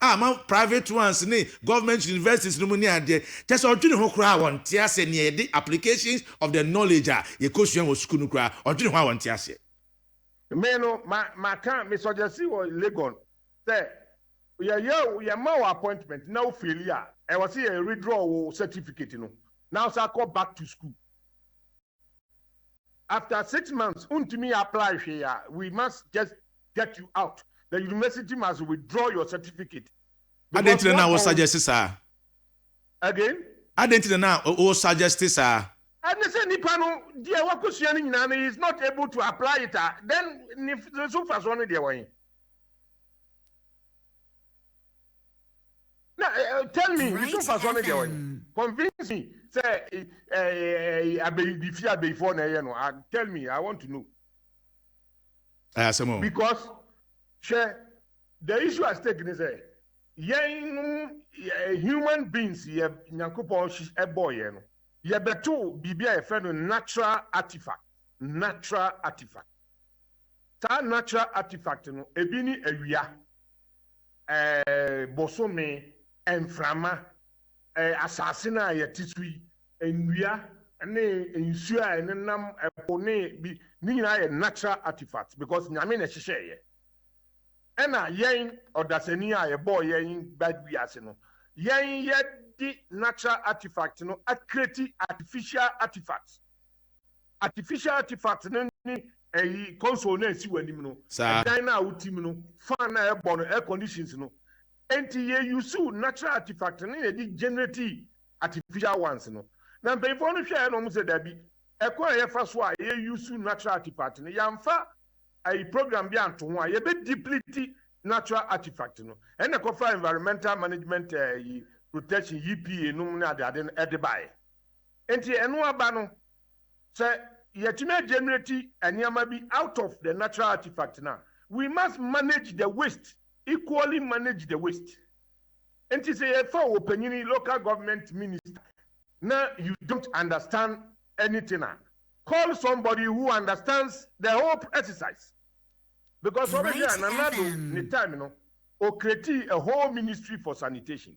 a ama private ones ne government universities no mu ne adeɛ, kyerɛ sɛ ɔdwene ho koraa a wɔnte aseɛ nea yɛde applications of the knowledge a yɛkɔsua wɔ sukuu no koraa ɔdwene ho a wɔnte aseɛ. Me no ma maka me suggesti wɔ Legon sɛ yɛyɛ wo yɛma wo appointment na wo faili a ɛwɔ sɛ yɛ redraw wo certificate no na wo san kɔ back to school. After six months wontumi apply hwee a, we must just get you out. The university must withdraw your certificate. Adɛn nti na na wo suggest saa? Again? Adɛn nti na na wo suggest saa? Ɛne sɛ nipa no deɛ wakɔsua no nyinaa no he is not able to apply it a, then ne so mfasoɔ no deɛ wɔ he? na tell me me so nfa so ne deɛ ɔyɛ convince me sɛ abeyi bi fi abeyifoɔ na ɛyɛ no tell me i want to know ayasɛm because hwɛ the issue at stake ne sɛ yɛn no human beings yɛ nyankopɔn ɛbɔ yɛn no yɛbɛto biribi a yɛfrɛ no natural artifact natural artifact saa natural artifact no ebi ne awia. bosome, mframa, asase no a yɛte so yi, nnua ne nsuo a ɛnenam ɛpo ne bi, ne nyinaa yɛ natural artifacts because Nyame na ɛhyehyɛɛ yɛ. Ɛna yɛn ɔdasani a yɛbɔɔ yɛn ba wiase no, yɛn yɛde natural artifact no akreti artificial artifacts. Artificial artifact no ne ɛyi console no a ɛsi w'anim no, Saa. ɛdan no a wote mu no, fan no a ɛbɔ no, air conditions no. Enti yɛ use natural artifact no na yɛde generate artificial ones no. Na mpanyinfoɔ no hwɛɛ na wɔn sɛ dabi, ɛkwan a yɛfa so a yɛ use natural artifact no, yɛanfa ɛyi program bi anto ho a, yɛbɛ deplete natural artifact no. Ɛna ɛkɔfa environmental management ɛyi protection, EPA, nom ne ade ade no ɛde baeɛ. Enti ɛno aba no, sɛ yɛatumi agenerati nneɛma bi out of the natural artifact no a, we must manage the waste, equally manage the waste. Enti sɛ yɛfa wo panyin yi, local government minister, na you don't understand anything a, call somebody who understands the whole exercise. Because sɛ wobɛhwɛ a, Nana Addo ne time no, ɔcreatii a whole ministry for sanitation.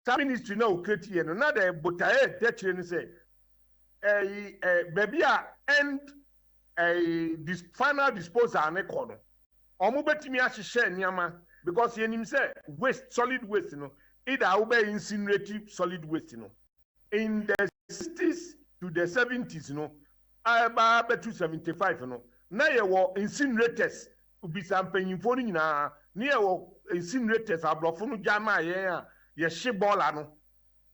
saa ministry no a ɔcreate yɛ no na dɛ botaɛ a ɛda akyire no sɛ ɛyi ɛ baabi a end ɛyi dis final disposal no kɔ no ɔmo bɛtumi ahyehyɛ nneɛma because yɛnim sɛ waste solid waste no either a wobɛ incinerate solid waste no in the sixties to the seventies no a ɛbaa bɛtu seventy five no na yɛwɔ incinerators Bisa mpanyimfoɔ no nyinaa ne yɛwɔ incinerators abrɔfo no gya maa yɛn a yɛhye bɔɔla no.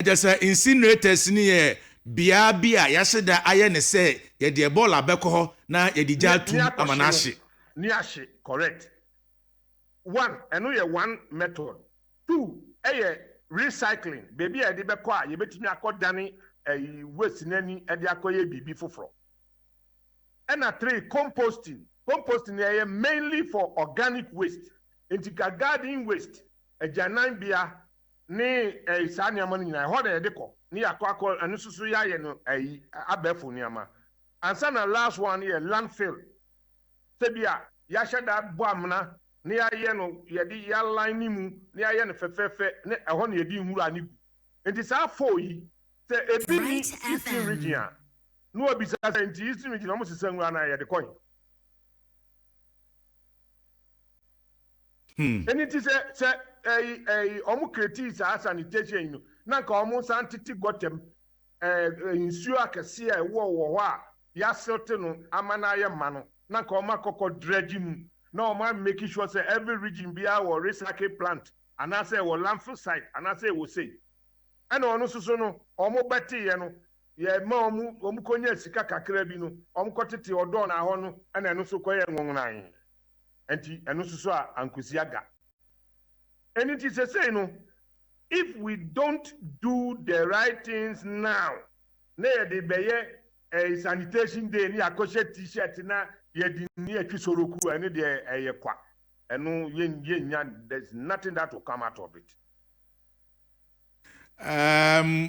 Kyerɛ sɛ incinerators no yɛ beaɛ bi a yɛahye da ayɛ no sɛ yɛdeɛ bɔɔla bɛkɔ hɔ na yɛde gya atum ama no ahye. Ne ahye correct one ɛno yɛ one method two ɛyɛ recycling baabi a yɛde bɛkɔ a yɛbɛtumi akɔ dane ɛyi waste no ani ɛde akɔ yɛ biribi foforɔ. Ɛna three, composting, composting no ɛyɛ mainly for organic waste, nti ka garden waste, agyananbea ne ɛɛ saa nneɛma no nyinaa ɛhɔ na yɛde kɔ ne yɛakɔ akɔ ɛno nso so yɛayɛ no ɛyi abɛɛfo nneɛma. Ansa na last one no yɛ landfill, sɛ bi a yɛahyɛ da abɔ amena na yɛayɛ no yɛde yɛ aline ne mu na yɛayɛ no fɛfɛɛfɛ ne ɛhɔ na yɛde nwura no gu, nti saa four yi sɛ ebi nni Eastern region a, na wɔbisa sɛ, Enti Eastern Region, wɔsesa ngo anaa? Yɛde kɔ he? Hmm. Ɛno nti sɛ sɛ ɛyi ɛyi wɔn kretii saa sanitation yi no na nka wɔn nsa ntete gɔtɛm ɛɛ nsuo akɛseɛ a ɛwɔ wɔ hɔ a yɛaselte no ama no ayɛ ma no na nka wɔn akɔkɔ dredge mu na wɔn a make sure sɛ every region biara wɔ recycle plant anaasɛ ɛwɔ landfill site anaasɛ ɛwɔ sei ɛna ɔno soso no wɔn bɛteeɛ no Yɛma wɔn, wɔkonyaa sika kakraa bi no, wɔkɔtetee ɔdɔɔ no ahɔ no na ɛno nso kɔyɛɛ nwonwonae. Enti ɛno nso so a ankosi aga. Ɛno nti seesei no, if we don't do the right things now na yɛde bɛyɛ ɛɛ sanitation day ne yɛakɔhyɛ t-shirt na yɛde ne yɛtwe soroku a, ɛno deɛ ɛyɛ kwa. Ɛno yɛn, yɛnnya, there's nothing that will come out of it. Um.